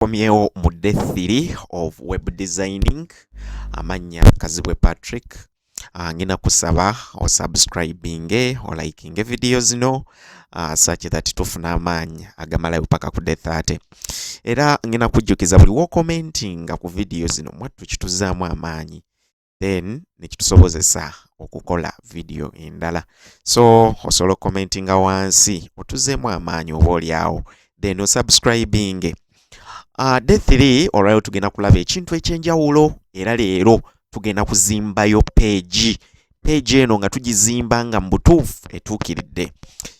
tukomyewo mu day 3 of web designing amannya kazibwe patrick ah, ngina kusaba osubscribinge olikinge vidiyo zino uh, such that tufuna amaanyi agamalayo paka ku day 30 era ngina kujjukiza buli wokomentinga ku vidiyo zino mwattu kituzaamu amaanyi then nekitusobozesa okukola video endala so osobola okukomentinga wansi otuzeemu amaanyi oba olyawo then osubscribing uh, day 3 olwaliro tugenda kulaba ekintu ekyenjawulo era leero tugenda kuzimbayo peegi peegi eno nga tugizimba nga mubutuufu etuukiridde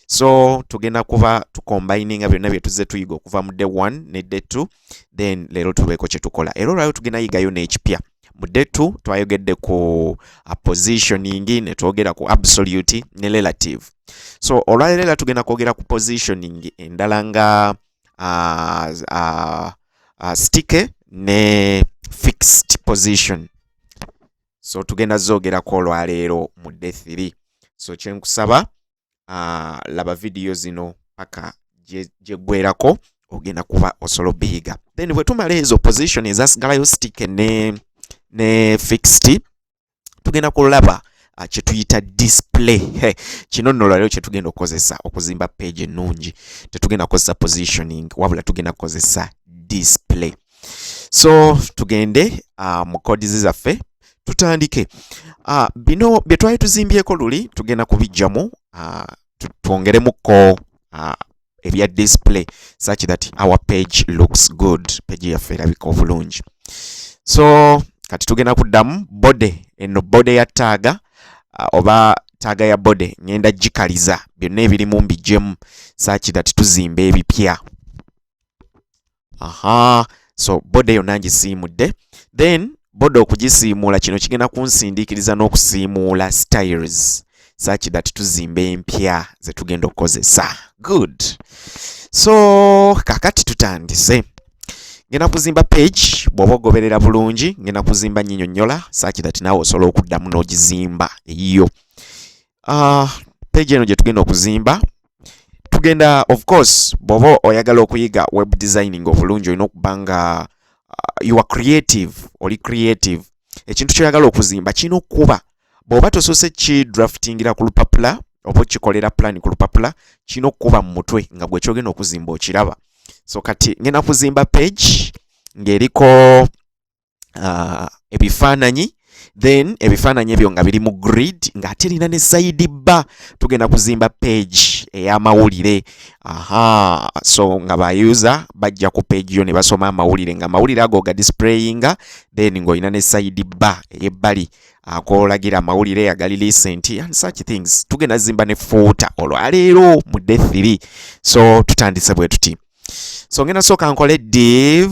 so tugenda kuba tukombininga byonna byetuzze tuyiga okuva mu day 1 ne day 2 then leero tubeeko kyetukola era olwaliro tugenda yigayo n'ekipya mu day 2 twayogedde ku positioning ne twogera ku absolute ne relative so olwaleero era tugenda kwogera ku positioning endala nga uh, uh, uh, sticky ne fixed position so tugenda zoogerako olwaleero mu day 3 so kyenkusaba uh, laba vidiyo zino paka gyegwerako ogenda kuba osobola obiyiga then bwe tumala ezo position ezasigalayo stick ne, ne fixed tugenda kulaba uh, kyetuyita display hey, kino nno lwaliro kyetugenda okukozesa okuzimba page ennungi tetugenda kukozesa positioning wabula tugenda kukozesa display so tugende uh, mu codizi zaffe tutandike uh, bino bye twali tuzimbyeko luli tugenda kubijjamu uh, twongeremukko uh, ebya display such that our page looks good page yaffe erabika obulungi so kati tugenda kuddamu bode eno bode ya taaga uh, oba taaga ya bode ngenda gikaliza byonna ebirimu mbijjemu such that tuzimba ebipya aha so boda yonna ngisiimudde then boda okugisiimuula kino kigenda kunsindiikiriza n'okusiimuula styles such that tuzimba empya ze tugenda okukozesa good so kakati tutandise ngenda kuzimba page bw'oba ogoberera bulungi ngenda kuzimba nyinyonyola such that naawe osobola okuddamu n'ogizimba eyiyo ah, page eno gye tugenda okuzimba tugenda of course bwoba oyagala okuyiga web designing obulungi olina okuba nga uh, you are creative oli creative ekintu kyoyagala okuzimba kirina okukuba bwoba tosoose ki draftingira ku lupapula oba okikolera plan ku lupapula kirina okukuba mu mutwe nga gwekyogenda okuzimba okiraba so kati ngenda kuzimba page ng'eriko uh, ebifaananyi then ebifaananyi ebyo nga biri mu grid ng'ate erina ne sayidi bba tugenda kuzimba page ey'amawulire aha so nga bayuza bajja ku page yo ne basoma amawulire nga amawulire ago ga displayinga then ng'olina ne sayidi bba ey'ebbali akolagira amawulire agali lisenti and such things tugenda zimba ne fuuta olwaleero mu de 3 so tutandise bwe tuti so ngenda sooka nkole div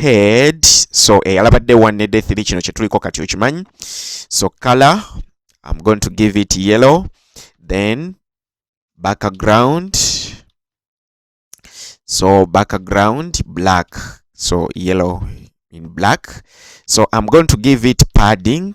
head so eyalabadde eh, one ne day 3 kino kyetuliko kati okimanyi so color i'm going to give it yellow then background so background black so yellow in black so i'm going to give it padding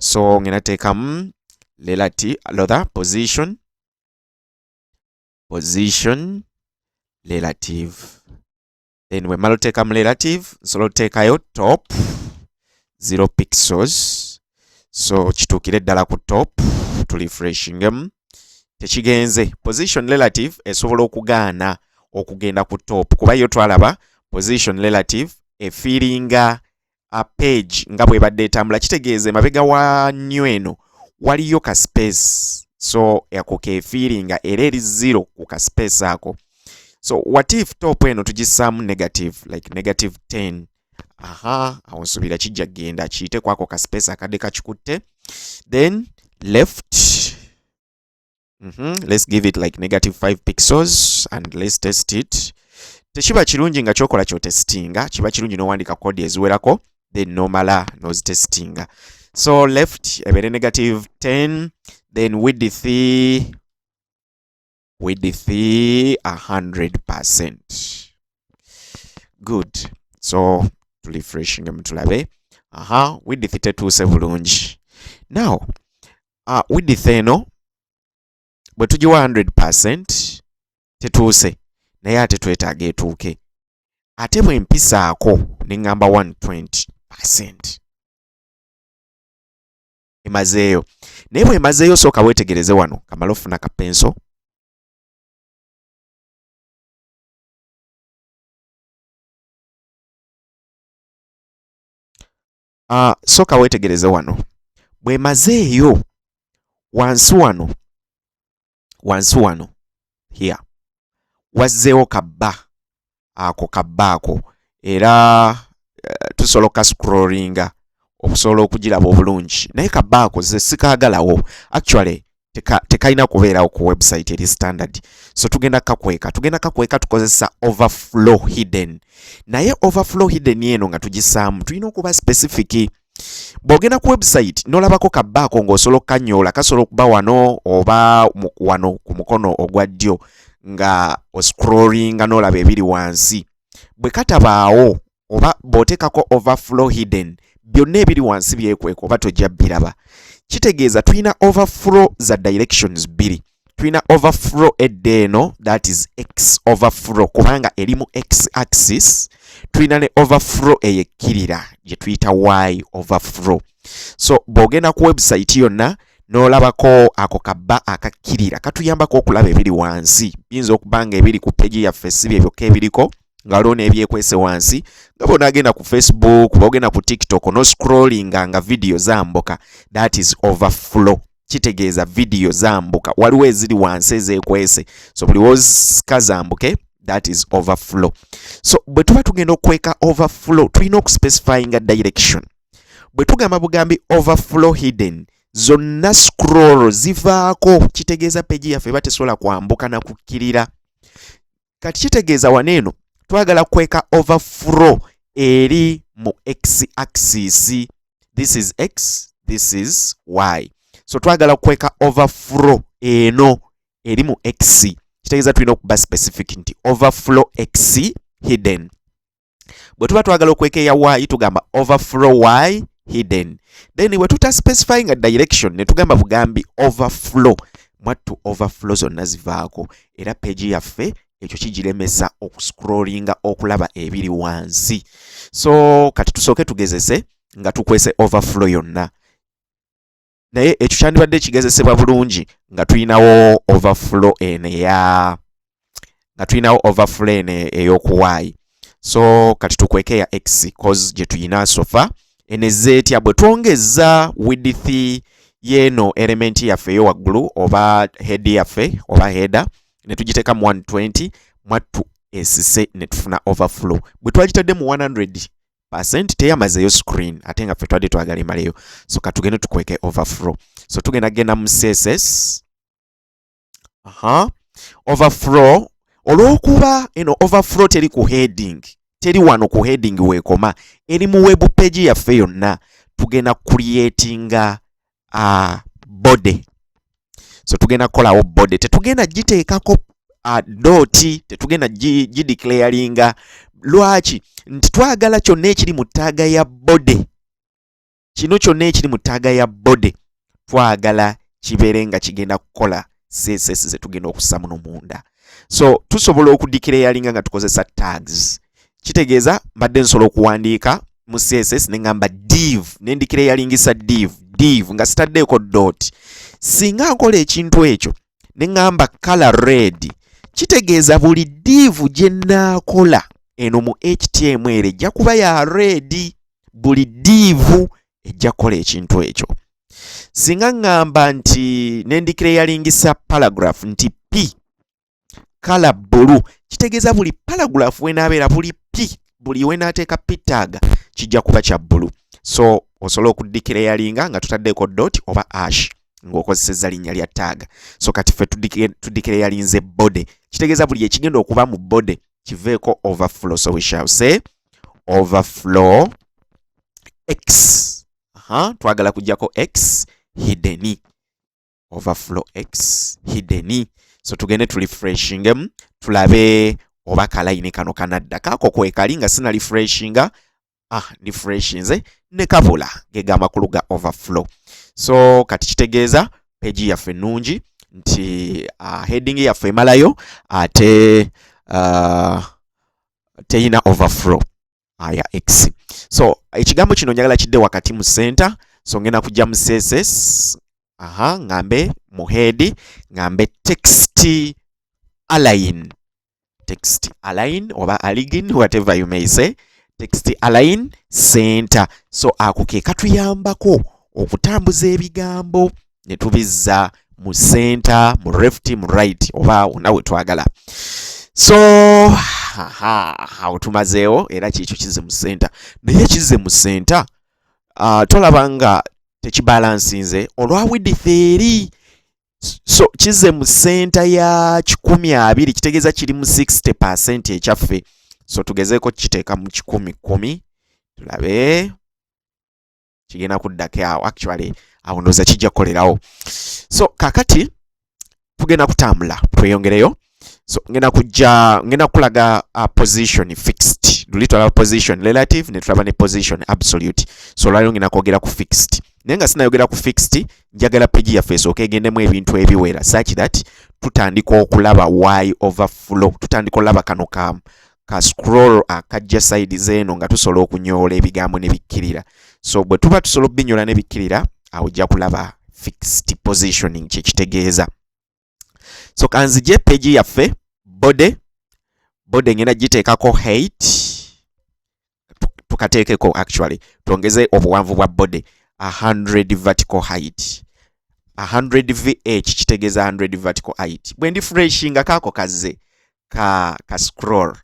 so ngena teekamu lelati lotha position position relative then we malo teka relative nsolo teka yo top 0 pixels so kitukire dala ku top to refreshing them tekigenze position relative esobola okugaana okugenda ku top kuba yo twalaba position relative efiringa uh, page nga bwebadde etambula kitegeeza emabega wa new eno waliyo ka space so ako kefiiringa era eri zero ku ka space ako so what if top eno tugisaamu negative like negative 10 aha awo nsubira kijja kugenda kiyite kwako ka space akadde kakikutte then left mm -hmm. let's give it like negative 5 pixels and let's test it tekiba kirungi nga kyokola kyotestinga kiba kirungi nowandika kodi eziwerako then nomala nozitestinga so left ebere negative 10 then width width 100% good so tulifreshinga mutulabe aha width tetuuse bulungi now uh, width eno bwe tugiwa 100% tetuuse naye ate twetaaga etuuke ate bwe mpisaako ne ŋŋamba 120% emazeeyo naye bwe emazeeyo sooka weetegereze wano kamala ofuna kapenso uh, soka wetegereze wano bwemazeeyo wansi wano wansi wano here wazzeewo kabba ako kabba ako era uh, tusobola okukascrollinga okusobola okugiraba obulungi naye kabba ako ze sikaagalawo actually tekalina kubeerawo ku website eri standard so tugenda kakweka tugenda kakweka tukozesa overflow hidden naye overflow hidden eno nga tugisaamu tulina okuba specific bw'ogenda ku website n'olabako kabbaako ng'osobola okukanyoola kasobola okuba wano oba wano ku mukono ogwa ddyo nga oscrollinga n'olaba ebiri wansi bwe katabaawo oba bw'oteekako overflow hidden byonna ebiri wansi byekweka oba tojja biraba kitegeeza tulina overflow za directions bbiri tulina overflow edda eno that is x overflow kubanga eri mu x axis tulina ne overflow eyekkirira gye tuyita y overflow so bw'ogenda ku website yonna n'olabako ako kabba akakkirira katuyambako okulaba ebiri wansi biyinza okuba nga ebiri ku peegi yaffe si bye byokka ebiriko ngaliwo nebyekwese wansi nga bona agenda ku facebook oba ogenda ku tiktok no scrollinga nga vidiyo zambuka that is overflow kitegeeza vidiyo zambuka waliwo eziri wansi ezekwese so buli wozika zambuke that is overflow so bwe tuba tugenda okweka overflow tulina okuspecifyinga direction bwe tugamba bugambi overflow hidden zonna scroll zivaako kitegeeza peji yaffe eba tesobola kwambuka na kukkirira kati kitegeeza wano eno twagala kweka overflow eri mu x axis this is x this is y so twagala kweka overflow eno eri mu x kitegeeza tulina okuba specific nti overflow x hidden bwe tuba twagala okwekeya y tugamba overflow y hidden then bwe tuta specify nga direction ne tugamba bugambi overflow mwattu overflow zonna zivaako era peegi yaffe ekyo kigiremesa okuscrollinga okulaba ebiri wansi so kati tusooke tugezese nga tukwese overflow yonna naye ekyo kyandibadde ekigezesebwa bulungi nga tulinawo overflow eno eya nga tulinawo overflow eno ey'okuwaayi so kati tukweke ya x cause gye tuyina sofa eno ezze etya bwe twongeza width y'eno elementi yaffe eyo waggulu oba head yaffe oba header ne tugiteeka mu 120 mwattu esise ne tufuna overflow bwe twagitadde mu 100 percent teyamazeyo screen ate nga ffe twadde twagala emaleyo so katugende tukweke overflow so tugenda genda mu css aha overflow olwokuba eno overflow teri ku heading teri wano ku heading wekoma eri mu web page yaffe yonna tugenda creatinga uh, body so tugenda kukolawo body tetugenda giteekako uh, dooti tetugenda gideclaringa lwaki nti twagala kyonna ekiri mu ttaaga ya body kino kyonna ekiri mu ttaaga ya body twagala kibeere nga kigenda kukola css zetugenda okussa muno munda so tusobola okudikira eyalinga nga tukozesa tags kitegeeza mbadde nsobola okuwandiika mu css nengamba div nendikira eyalingisa div div nga sitaddeeko dot singa nkola ekintu ekyo nengamba color red kitegeeza buli div gyenaakola eno mu htm ere ejja kuba ya red buli div ejja kukola ekintu ekyo singa ŋŋamba nti nendikira eyalingisa paragraph nti p kala bulu kitegeeza buli paragraph wenaabeera buli p buli wenaateeka p taaga kijja kuba kya bulu so osobola okuddikira eyalinga nga tutaddeeko dot oba ash ng'okozesezza linnya lya taaga so kati ffe tuddikira eyalinze body kitegeeza buli ekigenda okuba mu body kiveeko overflow so we shall say overflow x Aha, twagala kujjako x hidden overflow x hidden so tugende tu refreshingemu tulabe oba kalayini kano kanadda kaako kwekali nga sina refreshinga ah, refreshinze ne kabula gega amakulu ga overflow so kati kitegeeza peji yaffe ennungi nti uh, heading yaffe emalayo ate uh, teyina overflow aya ah, x so ekigambo kino njagala kidde wakati mu center so ngenda kujja mu css aha ngambe mu head ngambe text align text align oba aligin whatever you may say text align center so ako ke katuyambako okutambuza ebigambo ne tubizza mu center mu left mu right oba wonna we twagala so awo tumazeewo era kiikyo kizze mu center naye kizze mu center uh, tolaba nga tekibalansinze olwa widith eri so kizze mu center ya kikumi abiri kitegeeza kiri mu 60 percent ekyaffe so tugezeeko kukiteeka mu kikumi kumi tulabe kigenda kuddako awo actually awo ndowooza kijja kukolerawo so kakati tugenda kutambula tweyongereyo so ngenda kujja ngenda kukulaga uh, position fixed luli twalaba position relative ne tulaba ne position absolute so olwaliro ngenda kwogera ku fixed naye nga sinayogera ku fixed njagala peji yaffe esooka egendemu ebintu ebiwera such that tutandika okulaba y over flow tutandika olaba kano ka ka scroll akajja side zeeno nga tusobola okunyoola ebigambo ne bikkirira so bwe tuba tusobola okubinyoola ne bikkirira awo ojja kulaba fixed positioning kyekitegeeza so kanzije peegi yaffe body body ngenda giteekako hate tukateekeko actually twongeze obuwanvu bwa body 100 vertical height 100 vh kitegeeza 100 vertical height bwe ndi freshinga kaako kazze ka, ka scroll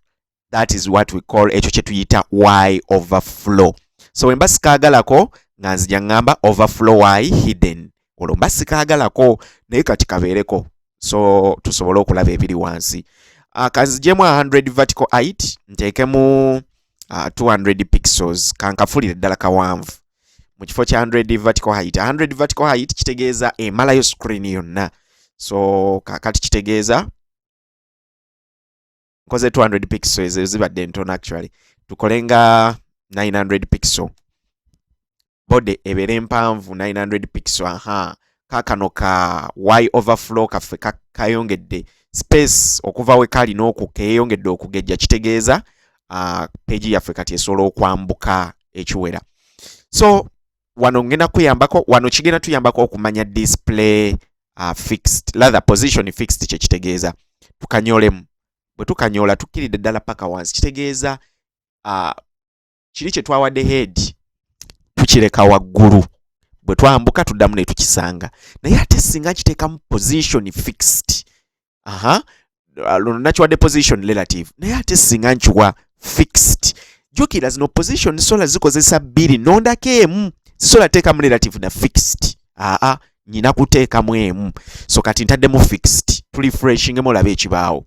that is what we call ekyo kye tuyita y overflow so wemba sikaagalako nga nzija ŋŋamba overflow y hidden olwo mba sikaagalako naye kati kabeereko so tusobole okulaba ebiri wansi ah, kanzijemu 100 vertical height nteekemu 200 ah, pixels kankafulire ddala kawanvu mu kifo kya 100 vertical height 100 vertical height kitegeeza emalayo screen yonna so kakati kitegeeza nkoze 200 pixel ezo zibadde entono actually tukole nga 900 pixel body ebeera empanvu 900 pixel aha kakano ka y overflow kaffe kayongedde ka space okuva we kali n'oku keeyongedde okugejja kitegeeza uh, peegi yaffe kati esobola okwambuka ekiwera so wano ngenda kuyambako wano kigenda tuyambako okumanya display uh, fixed lather position fixed kyekitegeeza tukanyolemu bwe tukanyoola tukkiridde ddala paka wansi kitegeeza uh, kiri kye twawadde head tukireka waggulu bwe twambuka tuddamu ne tukisanga naye ate singa kiteekamu position fixed aha uh, luno nakiwadde position relative naye ate singa nkiwa fixed jukira zino position sola zikozesa bbiri nondako emu sisola teekamu relative na fixed aa nyina kuteekamu emu so kati ntaddemu fixed tulifreshingemu olaba ekibaawo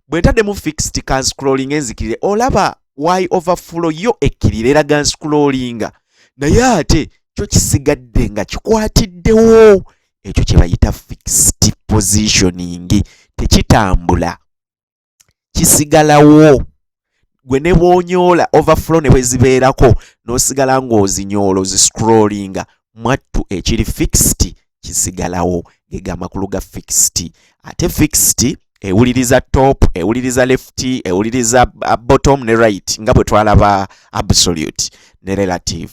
bwe ntaddemu fixed ka nscrolling enzikirire olaba y overflow yo ekkirira era ga nscrollinga naye ate kyo kisigadde nga kikwatiddewo ekyo kye bayita fixed positioning tekitambula kisigalawo gwe ne bwonyoola overflow ne bwe zibeerako n'osigala ng'ozinyoola oziscrollinga mwattu ekiri fixed kisigalawo ge ga makulu ga fixed ate fixed ewuliriza top ewuliriza left ewuliriza uh, bottom ne right nga bwe twalaba absolute ne relative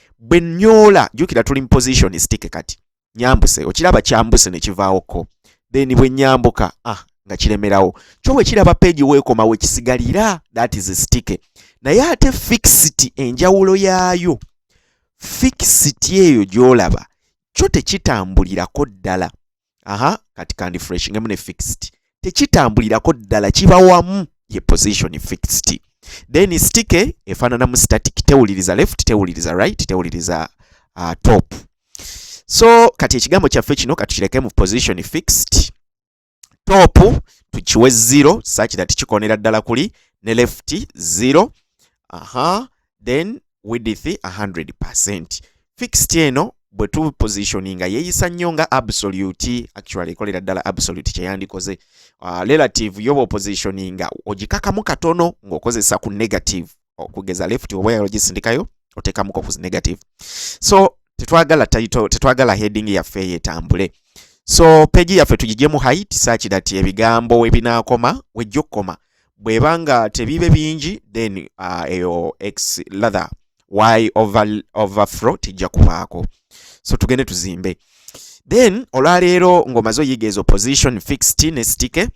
bwe nyoola jukira tuli mu position stick kati nyambuse okiraba kyambuse ne kivaawo ko then bwe nyambuka ah nga kiremerawo kyo bwe kiraba page weekoma we kisigalira that is stick naye ate fixity enjawulo yaayo fixity eyo gyolaba kyo tekitambulirako ddala aha kati kandi fresh ngemu ne fixed tekitambulirako ddala kiba wamu ye position fixed then stike efaanana mu static tewuliriza left tewuliriza right tewuliriza uh, top so kati ekigambo kyaffe kino katukireke mu position fixed top tukiwe zero such that kikonera ddala kuli ne left zero aha then width 100% fixed eno bwe tu positioninga yeyisa nnyo nga absolute actually ekolera ddala absolute kyeyandikoze uh, ah, relative yoba opositioninga ogikakamu katono ng'okozesa ku negative okugeza left oba yalo gisindikayo otekamuko ku negative so tetwagala title tetwagala heading yaffe yetambule so page yaffe tugijemu height such that ebigambo webinakoma wejja okukoma bweba nga tebibe bingi then uh, eyo x lather y over, overflow tijja kubaako so tugende tuzimbe then olwaleero ng'omaze oyiga ezo position fixed ne stike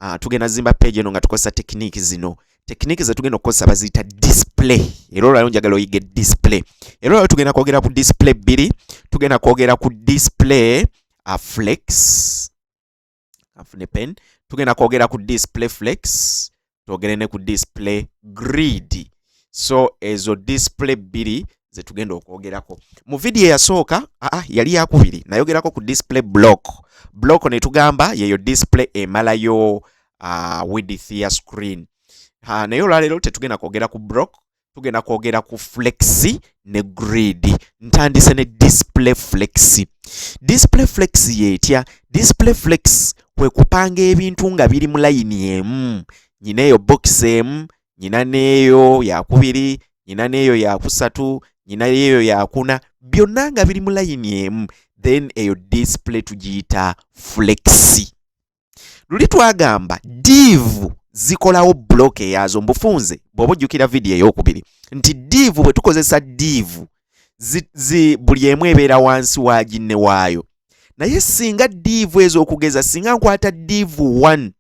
uh, tugenda zimba page eno nga tukozesa tekiniki zino tekiniki zetugenda okukozesa baziyita display era olwaleero njagala oyige display era olwaleero tugenda kwogera ku display bbiri tugenda kwogera ku display uh, flex kanfune pen tugenda kwogera ku display flex twogere ne ku display grid so ezo display bbiri zetugenda okwogerako mu vidiyo eyasooka aa yali yakubiri nayogerako ku display block block netugamba yeyo display emalayo uh, widith ya screen uh, naye olwaleero tetugenda kwogera ku block tugenda kwogera ku flexi ne grid ntandise ne display flexi display flexi yetya display flex kwe kupanga ebintu nga biri mu layini emu nyina eyo bokisi emu nyina neeyo yakubiri nyina neeyo yakusatu nyina yeeyo yakuna byonna nga biri mu layini emu then eyo display tugiyita flexi luli twagamba diivu zikolawo buloka eyazo mbufunze bw'oba ojjukira vidiyo ey'okubiri nti diivu bwe tukozesa diivu buli emu ebeera wansi wa ginne waayo naye singa diivu ezo okugeza singa nkwata diivu 1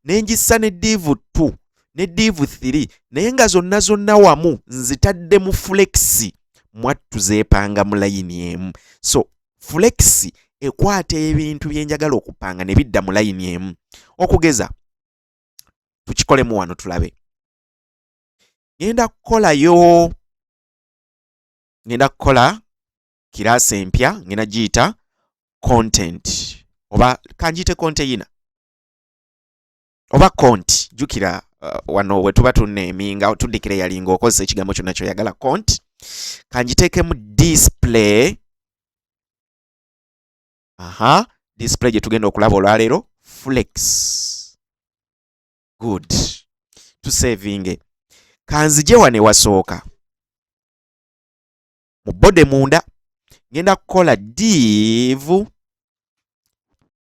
ne ngissa ne diivu 2 ne diivu 3 naye nga zonna zonna wamu nzitadde mu fulekisi mwattu zeepanga mu layini emu so fulekisi ekwata ebintu byenjagala okupanga ne bidda mu layini emu okugeza tukikolemu wano tulabe ngenda kukolayo ngenda kukola kiraasi empya ngenda giyita content oba kanjiyite konteyina oba konti jukira uh, wano wetuba tuneminga tudikira eyalinga okozesa ekigambo kyonna kyoyagala konti kanjiteekemu display aha display gye tugenda okulaba olwaleero flex good tusevinge kanzije wane wasooka mu bode munda ngenda kukola div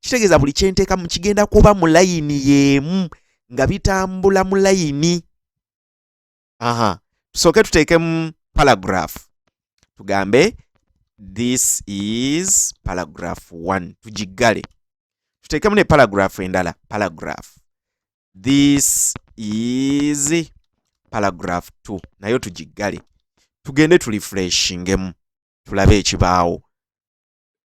kitegeeza buli kyenteekamu kigenda kuba mu layini yeemu nga bitambula mu layini aha tusooke tuteekemu paragraph tugambe this is paragraph 1 tugiggale tuteekemu ne paragraph endala paragraph this is paragraph 2 nayo tugiggale tugende tulifreshingemu tulabe ekibaawo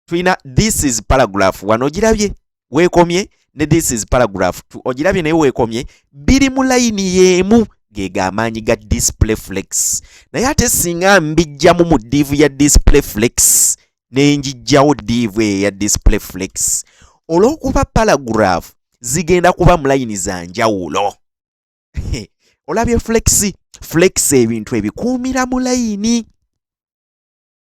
tulina this is paragraph wano ogirabye weekomye ne this is paragraph t ogirabye naye weekomye biri mu layini y'emu ge gamaanyi ga display flex naye ate singa mbijjamu mu diivu ya display flex ne njijjawo diivu eyo ya display flex olw'okuba paragraph zigenda kuba mu layini za njawulo olabye flex flex ebintu ebikuumira mu layini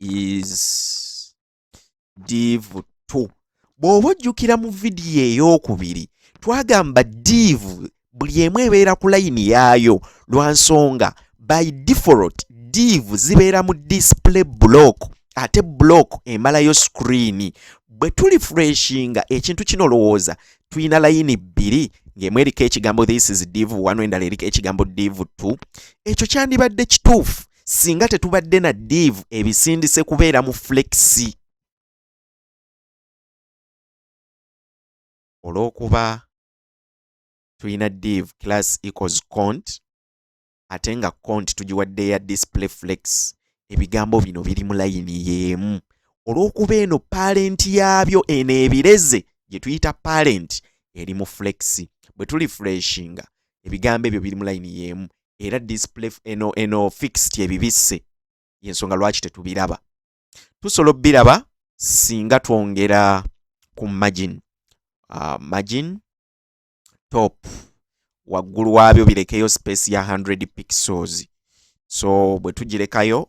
is div 2 bw'oba ojjukira mu vidiyo ey'okubiri twagamba div buli emu ebeera ku layini yaayo lwa nsonga by default div zibeera mu display block ate block emalayo screen bwe tuli freshinga ekintu kino lowooza tulina layini bbiri ng'emu eriko ekigambo this is div 1 endala eriko ekigambo div 2 ekyo kyandibadde kituufu singa tetubadde na diivu ebisindise kubeera mu flexi olw'okuba tulina div class equals cont ate nga cont tugiwadde ya display flex ebigambo bino biri mu layini y'emu olw'okuba eno parenti yaabyo eno ebireze gye tuyita parenti eri mu flex bwe tuli freshinga ebigambo ebyo biri mu layini y'emu era display eno eno fixed ebibisse yensonga lwaki tetubiraba tusobola obiraba singa twongera ku margin uh, margin top waggulu waabyo birekeyo space ya 100 pixels so bwe tugirekayo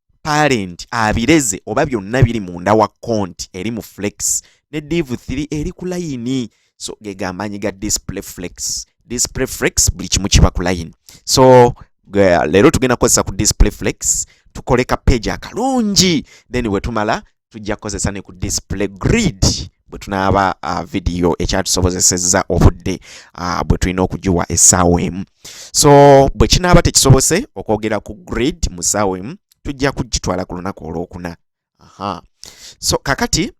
parent abireze oba byonna biri munda wa conti eri mu flex ne div 3 eri ku layini so gegambanyi ga display flex display flex buli kimu kiba ku layini so leero tugenda kukozesa ku display flex tukoleka page akalungi then wetumala tujja kukozesa ne ku display grid bwe tunaaba uh, vidiyo ekyatusobozesezza obudde uh, bwe tulina okugiwa essaawa emu so bwe kinaaba tekisobose okwogera ku grid mu ssaawa emu tujja kugitwala ku lunaku olwokuna aha so kakati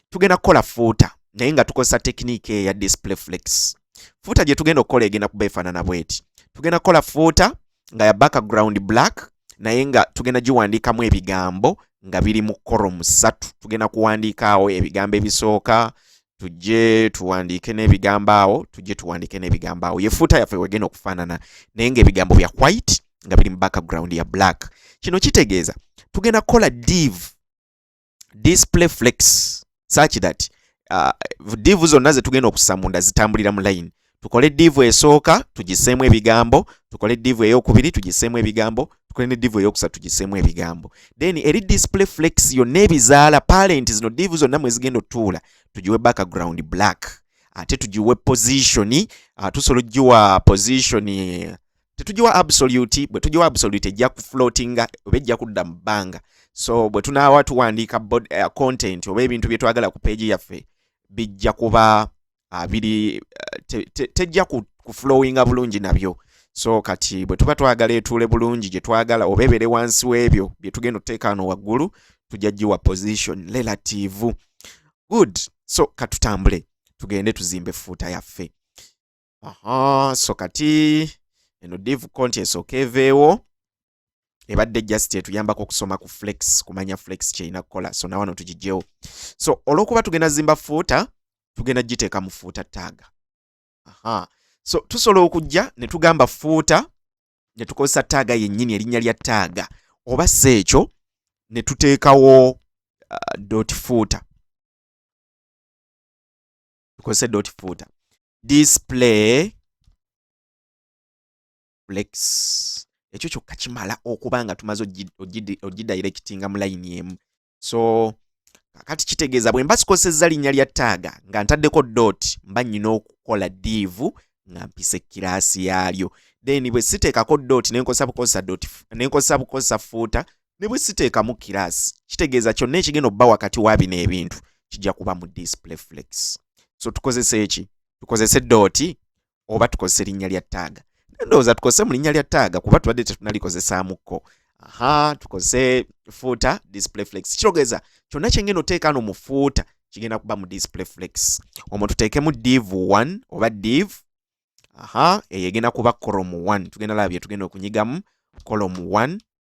tugenda kukola fuuta naye nga tukozesa tekinika eya display flex fuuta gye tugenda okukola egenda kuba efaanana bweti tugenda kukola fuuta nga ya background black naye nga tugenda giwandiikamu ebigambo nga biri mu koro musatu tugenda kuwandiikaawo ebigambo ebisooka tujje tuwandiike n'ebigambo awo tujje tuwandiike n'ebigambo awo yefuuta yaffe wegenda okufaanana naye nga ebigambo bya white nga biri mu background ya black kino kitegeeza tugenda kukola div display flex such that uh, divu zonna zetugenda okussa munda zitambulira mu line tukole divu esooka tugiseemu ebigambo tukole divu eyokubiri tugiseemu ebigambo tukole ne divu eyokusatu tugiseemu ebigambo then eri display flex yonna ebizaala parent zino divu zonna mwezigenda otuula tugiwe background black ate tugiwe position uh, tusobola ogiwa position tetugiwa absolute bwe tugiwa absolute ejja ku floatinga oba ejja kudda mu bbanga so bwe tunaawa tuwandiika uh, content oba ebintu bye twagala ku peegi yaffe bijja kuba uh, biri uh, te, te, tejja ku, ku flowinga bulungi nabyo so kati bwe tuba twagala etuule bulungi gye twagala oba ebeere wansi w'ebyo bye tugenda otuteeka wano waggulu tujja giwa position relative good so katutambule tugende tuzimbe fuuta yaffe aha so kati eno div konti esooka eveewo ebadde just etuyambako okusoma ku flex kumanya flex kyerina kukola so nawano tugijjewo so olwokuba tugenda zimba fuuta tugenda giteeka mu fuuta taaga aha so tusobola okujja ne tugamba fuuta ne tukozesa taaga yennyini erinnya lya taaga oba si ekyo ne tuteekawo uh, dot fuuta tukozese dot footer display flex ekyo kyokka kimala okuba nga tumaze ogidirectinga mu layini emu so kakati kitegeeza bwe mba sikozesezza linnya lya taaga nga ntaddeko dot mba nnyina okukola diivu nga mpisa ekkiraasi yaalyo then bwe siteekako dot nenkozesa bukozesa dot nenkozesa bukozesa fuuta ne bwe siteekamu kiraasi kitegeeza kyonna ekigenda okuba wakati wa bino ebintu kijja kuba mu display flex so tukozese eki tukozese dooti oba tukozese linnya lya taaga ndowooza tukozese mu linnya lya taaga kuba tubadde tetunalikozesaamuko aha tukozese fuuta display flex kirogeza kyonna kyengenda oteeka no mu fuuta kigenda kuba mu display flex omwo tuteekemu div 1 oba div aha eyo egenda kuba colom 1 tugenda laba byetugenda okunyigamu colom 1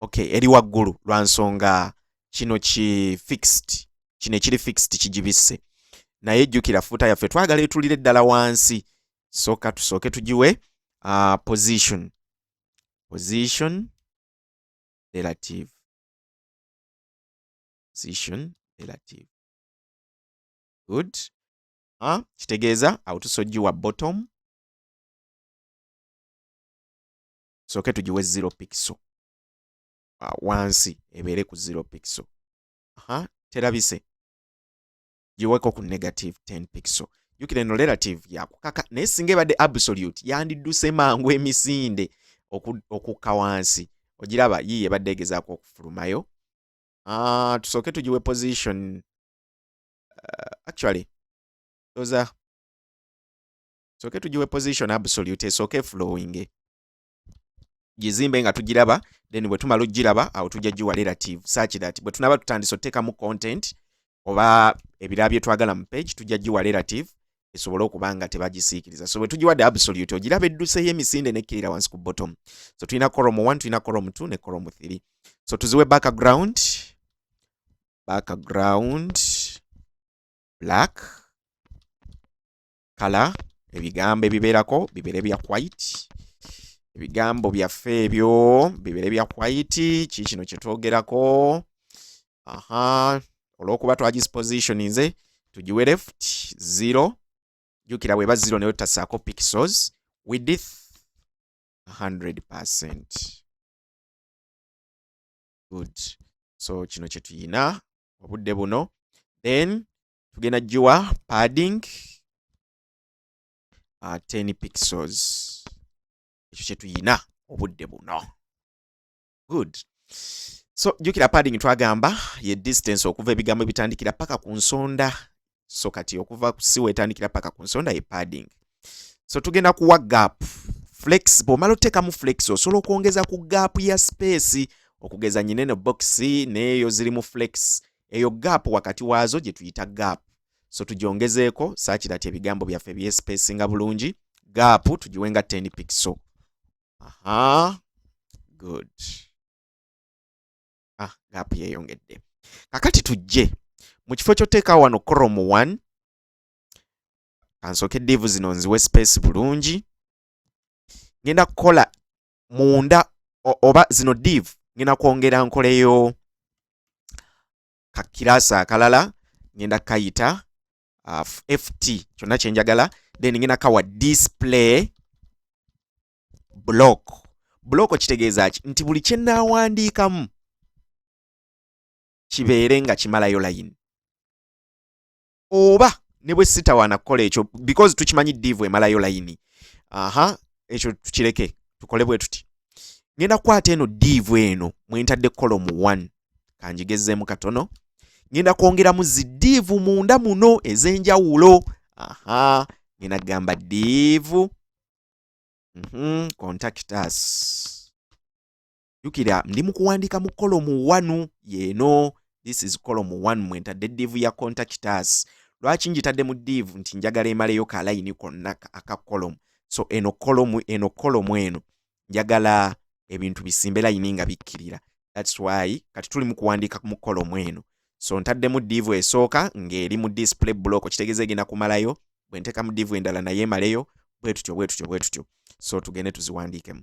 okay eri waggulu lwa nsonga kino ki fixed kino ekiri fixed kigibisse naye jjukira fuuta yaffe twagala etulire ddala wansi sooka tusooke tugiwe uh, position position relative position relative good uh, kitegeeza awo tusogiwa bottom soke tugiwe zero pixel uh, wansi ebeere ku zero pixel aha terabise giweko ku negative 10 pixel jukira eno relative yakukaka naye singa ebadde absolute yandidduse mangu emisinde okukka wansi ogiraba yiye ebadde egezaako okufulumayo uh, tusooke tugiwe position uh, actually those are soke tugiwe position absolute esooke flowing gizimbe nga tugiraba then bwe tumala okugiraba awo tujja giwa relative such that bwe tunaba tutandise oteekamu content oba ebirala bye twagala mu page tujja giwa relative esobole okuba nga tebagisiikiriza so bwe tugiwadde absolute ogiraba edduseyo emisinde nekkirira wansi ku bottom so tulina corom 1 tulina corom 2 ne corom 3 so tuziwe background background black kala ebigambo ebibeerako bibeere bya white ebigambo byaffe ebyo bibeere bya white ki kino kyetwogerako aha olwokuba twagisposition nze tugiwe left zero jukira bweba zero naye tutasaako pixels width 100 percent good so kino kyetuyina obudde buno then tugenda giwa padding uh, ah, 10 pixels ekyo kyetuyina obudde buno good so jukira padding twagamba ye distance okuva ebigambo ebitandikira paka ku nsonda so kati okuva siwa etandikira paka ku nsonda ye padding so tugenda kuwa gap flex bwomala oteekamu flex osobola okwongeza ku gap ya space okugeza nyineno box neeyo zirimu flex eyo gap wakati waazo gye tuyita gap so tugyongezeeko saakira ti ebigambo byaffe byesipesinga bulungi gap tugiwenga 10 pixel aha good ah gap yeyongedde kakati tujje mu kifo kyoteeka wano crom 1 kansooke divu zino nziwe space bulungi ngenda kukola munda oba zino div ngenda kwongera nkoleyo kakirasi akalala ngenda kayita uh, ft kyonna kyenjagala then ngenda kawa display block block kitegeeza ki nti buli kyenaawandiikamu kibeere nga kimalayo layini oba ne bwe sitawaana kukola ekyo because tukimanyi diivu emalayo layini aha ekyo tukireke tukole bwe tuti ngenda kukwata eno diivu eno mwentadde kolomu one kanjigezzeemu katono ngenda kwongeramu zi diivu munda muno ez'enjawulo aha ngenda kugamba diivu mm -hmm. contactus jukira ndi mu kuwandiika mu kolomu wanu yeeno this is kolomu one mwe ntadde diivu ya contact us lwaki njitadde mu diivu nti njagala emaleyo ka layini konna aka kolomu so eno kolomu eno kolomu eno njagala ebintu bisimbe layini nga bikkirira thats why kati tuli mu kuwandiika mu kolomu eno so ntaddemu diivu esooka ng'eri mu display block kitegeeza egenda kumalayo bwe nteeka mu diivu endala naye emaleyo bwe tutyo bwe tutyo bwe tutyo so tugende tuziwandiikemu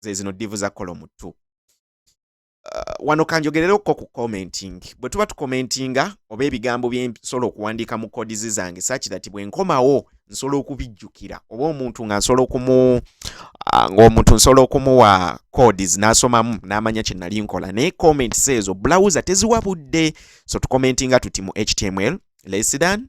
zezino divu za kola omuttu uh, wano kanjogerereko ku commenting bwe tuba tukomentinga oba ebigambo byensobola okuwandiika mu kodizi zange sakirati bwe nkomawo nsobola okubijjukira oba omuntu nga nsobola okumu uh, ngaomuntu nsobola okumuwa codis n'asomamu n'amanya kye nali nkola naye comments ezo bulawuza teziwa budde so tukomentinga tuti mu html lesidan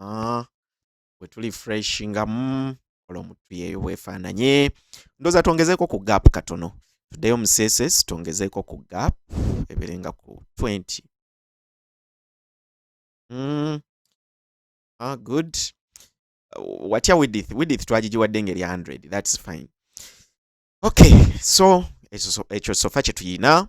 ah, wetuli fresh nga mm, kola omutu yeyo bwefaananye ndoza twongezeeko ku gap katono tuddeyo mu css twongezeeko ku gap eberenga ku 20 mm. ah, good watya widith widith twagigiwadde ngeri 100 thats fine okay so ekyo sofa kye tuyina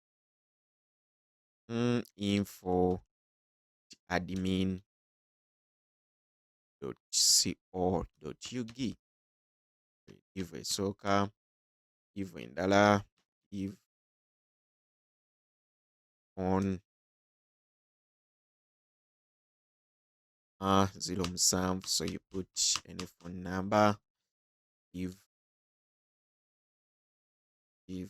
mm, info admin co ug iv esooka iv endala iv on uh, zero musanvu so you put any phone number iv iv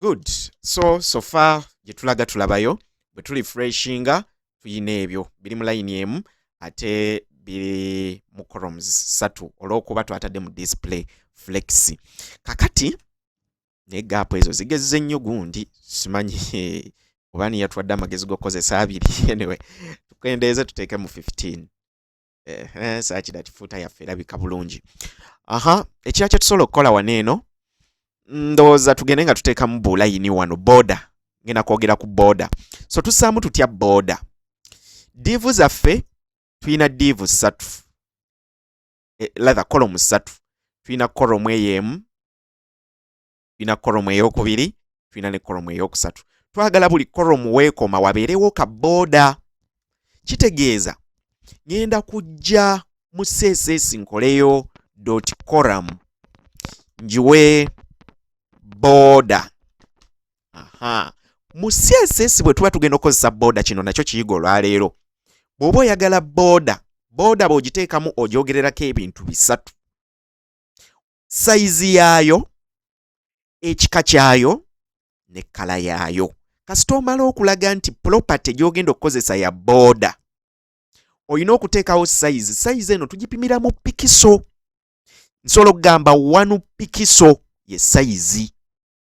good so sofa gye tulaga tulabayo bwe tuli freshinga tuyina ebyo biri mu layini emu ate biri mu coroms satu olw'okuba twatadde mu display flex kakati naye gaapu ezo zigezze nnyo gundi simanyi oba niyatwadde amagezi g'okukozesa abiri anyway tukendeeze tuteeke mu 15 eh, eh, sakira kifuuta yaffe erabika bulungi aha ekira kyetusobola okukola wano eno ndowooza tugende nga tuteekamu bulayini wano boda ngenda kwogera ku boda so tusaamu tutya boda diivu zaffe tulina diivu ssatu eh, latha kolomu ssatu tulina kolomu eyo emu tulina koromu eyokubiri tulina ne koromu eyokusatu twagala buli koromu weekoma wabeerewo ka booda kitegeeza ngenda kujja mu css nkoleyo dot coram njiwe booda aha mu css bwe tuba tugenda okukozesa booda kino nakyo kiyiga olwaleero bw'oba oyagala booda booda bw'ogiteekamu ogyogererako ebintu bisatu sayizi yaayo ekika kyayo ne kkala yaayo kasita omala okulaga nti property gy'ogenda okukozesa ya booda olina okuteekawo sayizi sayizi eno tugipimira mu pikiso nsobola okugamba wanu pikiso ye sayizi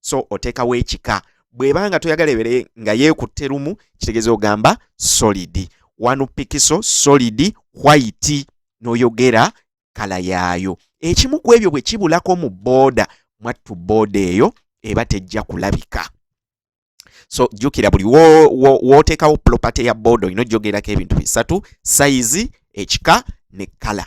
so oteekawo ekika bweba nga toyagala ebere nga yeekutte lumu kitegeeza ogamba solidi wanu pikiso solidi white noyogera kala yaayo ekimu ku ebyo bwe kibulako mu booda mwattu booda eyo eba tejja kulabika so jjukira buli wooteekawo property ya booda olina ojjogerako ebintu bisatu sayizi ekika ne kala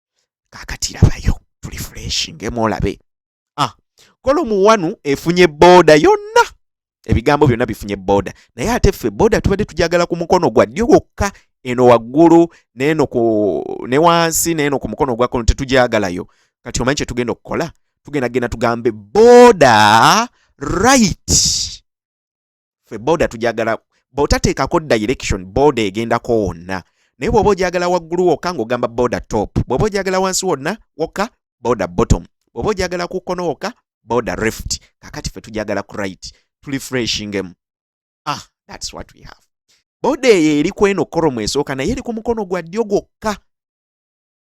kakati labayo tuli fuleshi ngemu olabe ah, kolomu wanu efunye booda yonna ebigambo byonna bifunye booda naye ate ffe booda tubadde tujagala ku mukono gwa ddyo gwokka eno waggulu neeno ku ne wansi neeno ku mukono ogwa kono tetujagalayo kati omanyi kyetugenda okukola tugenda genda tugambe booda right fe boda tujagala bwotateekako direction boda egendako wonna naye bwoba ojagala waggulu wokka ng'ogamba boda top bwoba ojagala wansi wonna wokka boda bottom bwoba ojagala ku kkono wokka boda reft kakati fe tujagala ku right tuli freshingemu ah thats what we have boda eyo eri kweno koromu esooka naye eri ku mukono gwa ddyo gwokka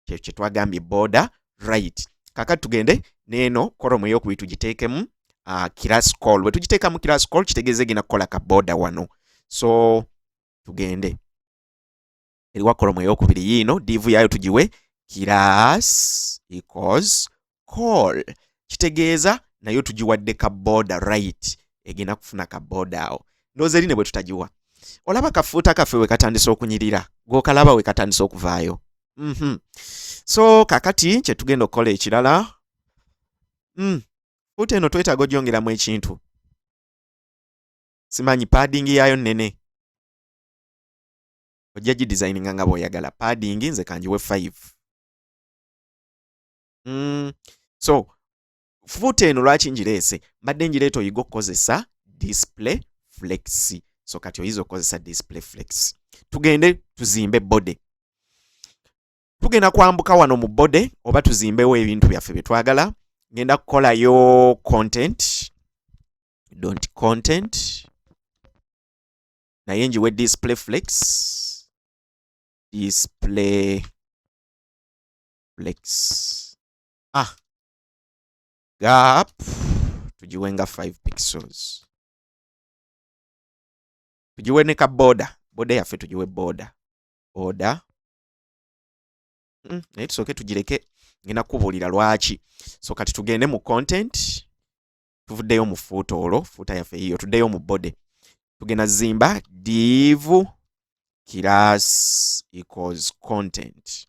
kyeyo kyetwagambye border right kakati tugende neeno koromu eyokubiri tugiteekemu uh, class call bwe tugiteekamu class call kitegeeza egenda kukola ka border wano so tugende eriwa kolomu eyokubiri yiino divu yaayo tugiwe class equals call kitegeeza nayo tugiwadde ka border right egenda kufuna ka border awo ndooza eri ne bwe tutagiwa olaba kafuuta kaffe we katandise okunyirira gwokalaba we katandise okuvaayo mm -hmm. so kakati kye tugenda okukola ekirala mm. fuuta eno twetaaga ogyongeramu ekintu simanyi padding yaayo nnene ojja gidesigninga nga bw'oyagala padding nze kangiwe 5 mm. so fuuta eno lwaki ngireese mbadde ngireeta oyiga okukozesa display flex so kati oyinza okukozesa display flex tugende tuzimbe body tugenda kwambuka wano mu body oba tuzimbewo ebintu byaffe byetwagala ngenda kukolayo content don't content naye njiwe display flex display flex ah gap tugiwe nga 5 pixels tugiwe ne ka boda boda yaffe tugiwe boda oda mm, naye tusooke tugireke ngenda kukubuulira lwaki so kati tugende mu content tuvuddeyo mu fuuta olwo fuuta yaffe yiyo tuddeyo mu body tugenda zimba div class equals content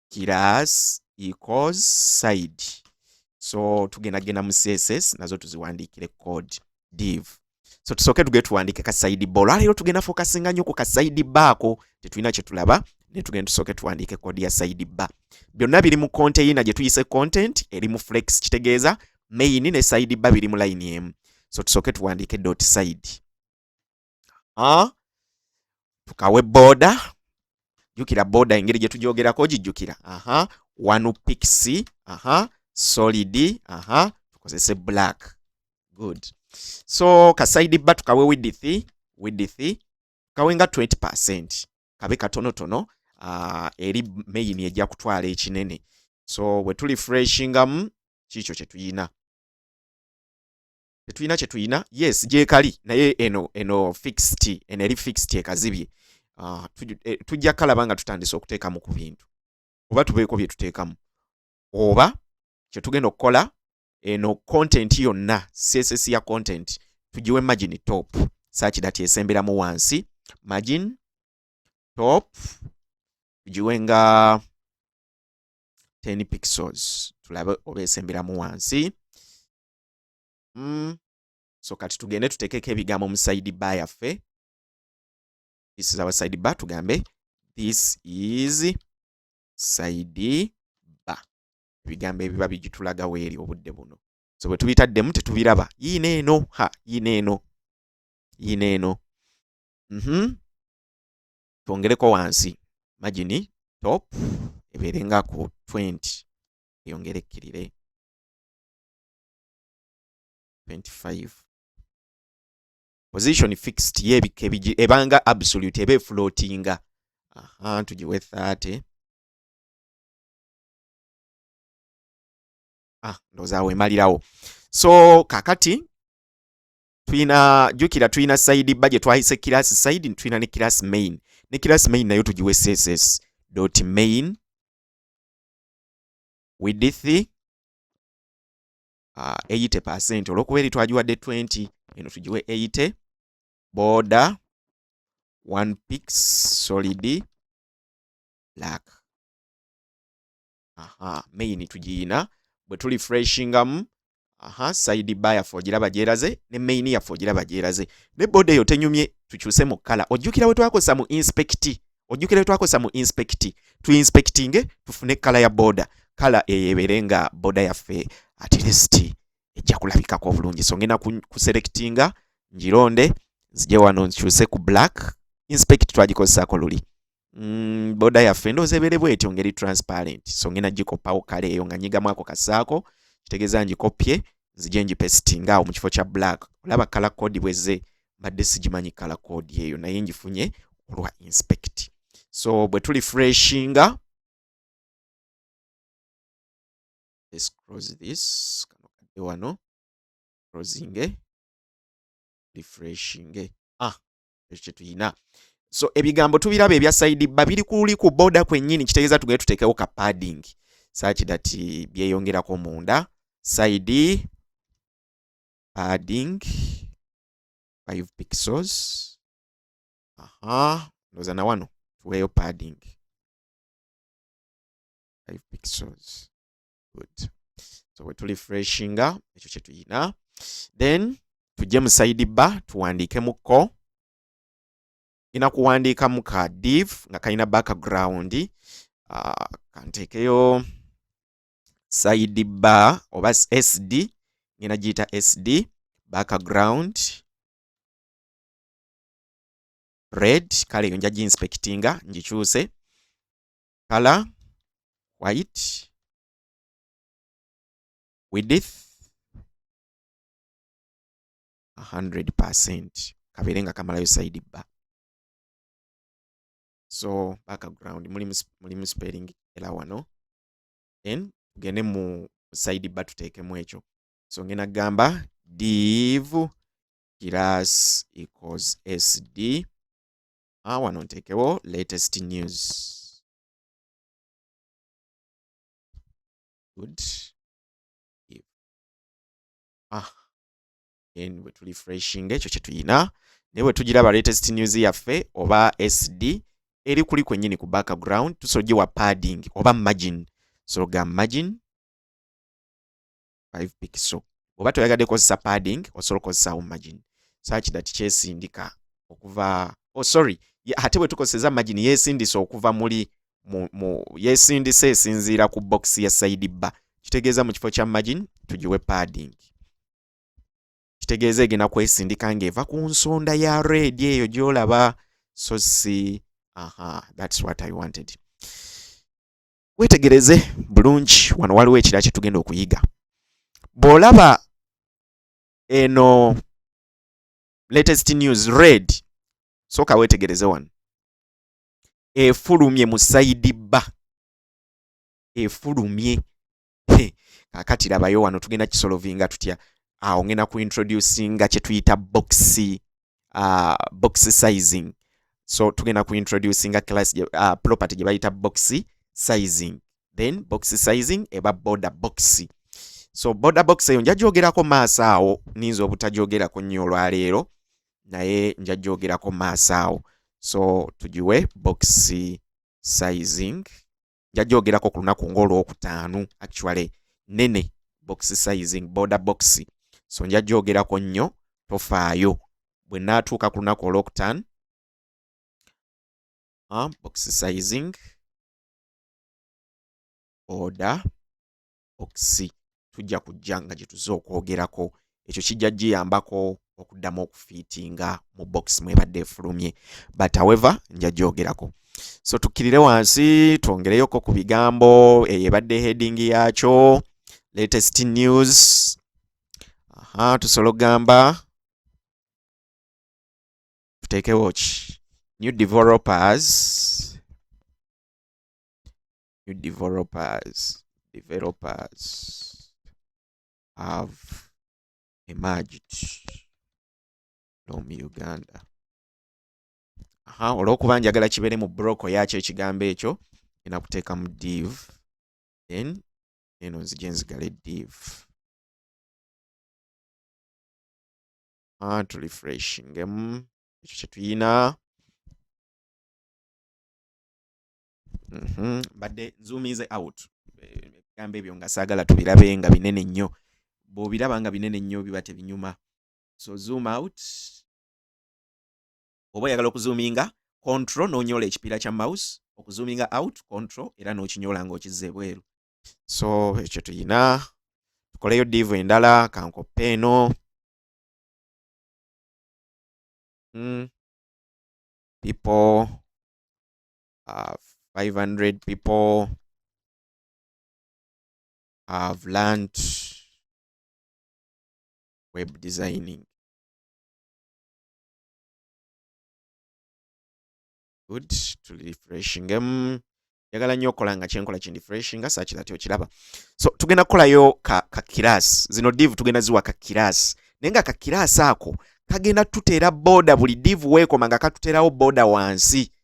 class equals side so tugenda genda mu css nazo tuziwandiikire code div so tusooke tugee tuwandiike ka side ba olwaleero tugenda fokasinga nnyo ku ka side baako tetulina kye tulaba ne tugenda tusooke tuwandiike code ya side ba byonna biri mu konteyina gye tuyise content eri mu flex kitegeeza main ne side ba biri mu line emu so tusooke tuwandiike dot side ah, tukawe boda jukira boda engeri gye tugyogerako gijjukira aha one pixi aha solid aha tukozese black good so kasaidi ba tukawe widithi widithi kawe nga 20 percent kabe katonotono uh, eri main ejja kutwala ekinene so bwe tuli freshingamu kiikyo kye tuyina tetulina kye tulina yes gyekali naye eno eno fixed eno eri fixed ekazibye uh, eh, tujja kalaba nga tutandise okuteekamu ku bintu oba tubeeko bye tuteekamu oba kye tugenda okukola eno content yonna css ya content tugiwe margin top saaki dati esemberamu wansi margin top tugiwe nga 10 pixels tulabe oba esemberamu wansi mm. so kati tugende tutekeko ebigambo mu side ba yaffe this is our side ba tugambe this is side ba ebigambo ebiba bigitulaga weeri obudde buno so bwe tubitaddemu tetubiraba yiina eno ha yiina eno yiina eno mm -hmm. twongereko wansi magini top ebeere nga ku 20 eyongere ekkirire 25 position fixed yebika ebigi ebanga absolute ebe floatinga aha tugiwe 30 ah ndoza awo emalirawo so kakati tuyina jukira tuyina side budget twahise class side tuyina ne class main ne class main nayo tugiwe css dot main width uh, 80 percent olwokuba eri twagiwadde 20 eno tugiwe 80 border one pix solid black aha main tugiyina bwe tuli freshingamu aha side bar yaffe ogiraba gyeraze ne main yaffe ogiraba gyeraze ne boda eyo tenyumye tukyuse mu kkala ojjukira we twakozesa mu inspecti ojjukira twakozesa mu inspect tu inspectinge tufune kala ya boda kala eyebere nga boda yaffe at least ejja kulabikako obulungi so ngenda kuselectinga njironde nzije wano nkyuse ku black inspect twagikozesako luli mm, boda yaffe ndooza ebere bwetyo ngeri transparent so ngenda gikopawo kala eyo nga nyigamu ako kasaako kitegeeza ngikopye nzije ngipesitinga awo mu kifo kya black olaba kala code bweze mbadde sigimanyi kala code eyo naye ngifunye olwa inspect so bwe tuli freshinga let's close this kano kadde wano closing refreshing ah ekyo kye tulina so ebigambo tubiraba ebya saidi bba biri kuli ku boda kwennyini kitegeeza tugende tuteekewo ka padding saaki dati byeyongerako munda saidi padding 5 pixels aha ndoza na wano tuweeyo padding 5 pixels good so we tuli freshinga ekyo kye tuyina then tujje mu side ba tuwandiike mu ko ina kuwandiika mu ka div nga kalina background uh, kanteekeyo side ba oba sd ngena giyita sd background red kale eyo nja ginspectinga ngikyuse color white width 100% kabeere nga kamalayo side bar so background mulimu mulimu spelling ela wano then tugende mu side bar tuteekemu ekyo so ngenda gamba div class equals sd ah, wano nteekewo latest news good if ah then bwe tu refreshing ekyo kye tuyina naye bwe tugiraba latest news yaffe oba sd eri kuli kwennyini ku background tusola ogiwa padding oba margin soga margin 5 pixel oba toyagadde kozesa padding osobola okozesa margin such that kyesindika okuva oh sorry ate bwe tukozeseza margin yesindisa okuva muli mu, mu yesindisa esinziira ku box ya side ba kitegeeza mu kifo kya margin tugiwe padding kitegeeza egenda kwesindika ng'eva ku nsonda ya red eyo gyolaba so si aha thats what i wanted wetegereze bulungi wano waliwo ekira kye tugenda okuyiga bw'olaba eno latest news red sooka wetegereze wano efulumye mu saidi bba efulumye kakati labayo wano tugenda kisolovinga tutya awo ah, ngenda ku introducinga kyetuyita box uh, box sizing so tugenda ku introducinga class uh, property gye bayita box sizing then box sizing eba border box so border box eyo nja gyogerako maaso awo ninza obutajyogerako nnyo olwaleero naye nja gyogerako maaso awo so tugiwe box sizing njagyogerako ku lunaku ng'olwokutaano actually nene box sizing border box so njagyogerako nnyo tofaayo bwe naatuuka ku lunaku olwokutaano uh, box sizing order bokisi tujja kujja nga gye tuze okwogerako ekyo kijja giyambako okuddamu okufiitinga mu bokisi mwebadde efulumye but however nja gyogerako so tukkirire wansi twongereyoko ku bigambo eyo ebadde heading yaakyo latest news aha tusobola okugamba tuteekewo ki new developers new developers developers have emerged from uganda aha olwokuba njagala kibeere mu broko yakyo ekigambo ekyo ena kuteekamu div then eno nzija enzigale div ah, tulifreshingemu ekyo kyetuyina mhm. mbadde nzuumize out ebigambo ebyo nga saagala tubirabe nga binene nnyo bw'obiraba nga binene nnyo biba tebinyuma so zoom out oba oyagala okuzuuminga control n'onyola ekipiira kya mouse okuzuuminga out control era n'okinyola ng'okizza ebweru so ekyo tuyina tukoleyo diivu endala kankoppe eno hmm. people uh, 500 people have learned web designing. Good to refreshing them. njagala nnyo okukola nga kyenkola kindi fresh nga saaki that okiraba so tugenda kukolayo ka, ka kiraasi zino div tugenda ziwa ka kiraasi naye nga ka kiraasi ako kagenda tuteera boda buli div weekoma nga katuterawo boda wansi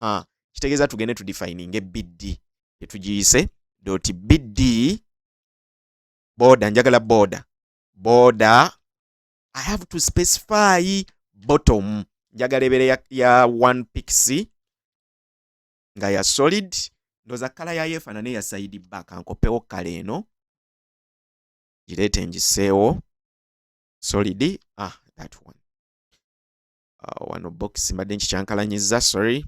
ha kitegeeza tugende tu defininge bd tetugiyise doti bd boda njagala boda boda i have to specify bottom njagala ebere ya, ya one pixi nga ya solid ndoza kala yayo efanane ya side back ankopewo kala eno gireete ngiseewo solid ah that one uh, wano box mbadde nkikyankalanyiza sorry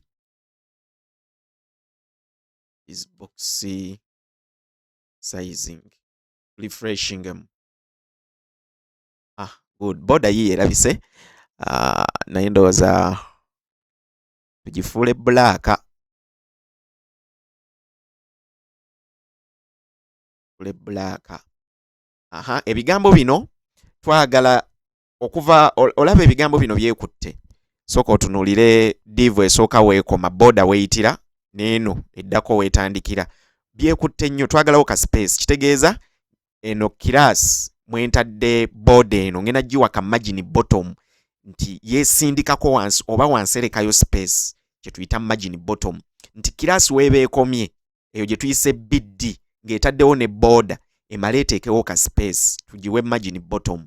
is box sizing refreshing em ah good boda yiye erabise uh, naye ndowooza tugifuule bulaaka ebulaaka aha ebigambo bino twagala okuva olaba ebigambo bino byekutte sooka otunulire divu esooka weekoma boda weyitira neeno eddako wetandikira byekutte nnyo twagalawo ka space kitegeeza eno kiraasi mwentadde boda eno ngenda giwa ka magini bottom nti yesindikako wansi oba wanserekayo space kyetuyita magini bottom nti kiraasi weeba ekomye eyo gye tuyise biddi ng'etaddewo ne boda emale eteekewo ka space tugiwe magini bottom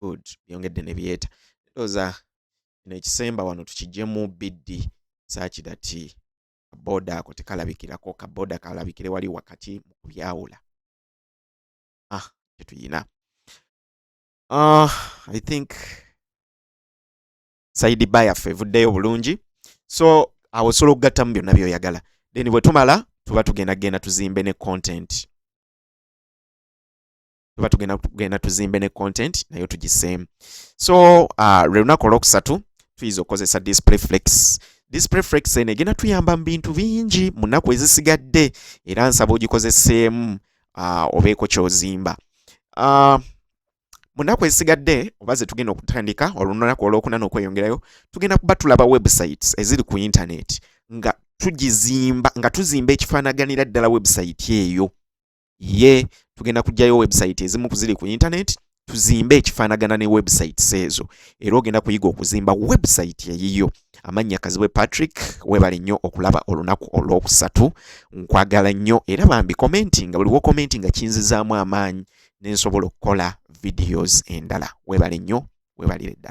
good byongedde ne byeta ndoza kino ekisemba wano tukijemu biddi saki that boda ako tekalabikirako ka boda kalabikire wali wakati mu kubyawula ah kyetuyina ah i think saidi ba yaffe evuddeyo bulungi so awo osobola okugattamu byonna byoyagala then bwe tumala tuba tugenda genda tuzimbe ne content tuba tugenda tugenda tuzimbe ne content nayo tugise so uh, lwe lunaku olwokusatu tuyinza okukozesa display flex display flex eno egenda tuyamba mu bintu bingi mu nnaku ezisigadde era nsaba ogikozeseemu uh, obeeko kyozimba uh, mu nnaku ezisigadde oba ze tugenda okutandika olunaku olwokuna n'okweyongerayo tugenda kuba tulaba websites eziri ku internet nga tugizimba nga tuzimba ekifaanaganira ddala website eyo ye tugenda kujjayo website ezimu kuziri ku internet tuzimbe ekifaanagana ne websites ezo era ogenda kuyiga okuzimba website eyiyo amannya kazibwe patrick webale nnyo okulaba olunaku olwokusatu nkwagala nnyo era bambi commenti nga buliwo commenti nga kinzizaamu amaanyi nensobola okukola videos endala webale nnyo webalire ddala